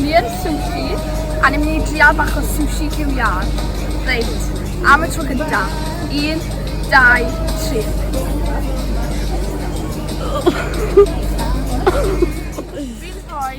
Ni yn sushi, a ni'n mynd i drial bach o sushi cyw iar. Reit, am y tro gynta. Un, dau, tri. Fi'n rhoi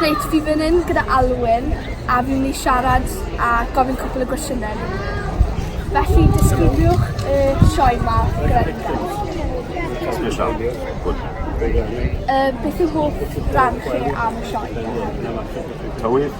Reit, fi fan 'yn gyda Alwyn a fi myn' i siarad a gofyn cwpwl o gwestiyne i chi. Felly disgrifiwch y sioe 'ma gyda fi plis. Yy beth yw hoff ran chi am y sioe? Tywydd.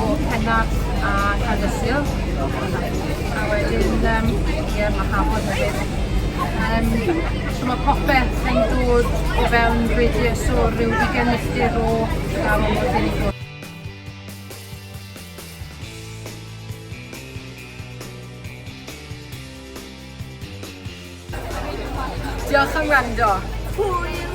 o Pennard a Caerdysil. A wedyn, um, ie, mae Hafod hefyd. Um, so mae popeth yn dod o fewn radius o rhyw ddigen milltir o gael o'n bod yn Diolch am wrando. Hwyl!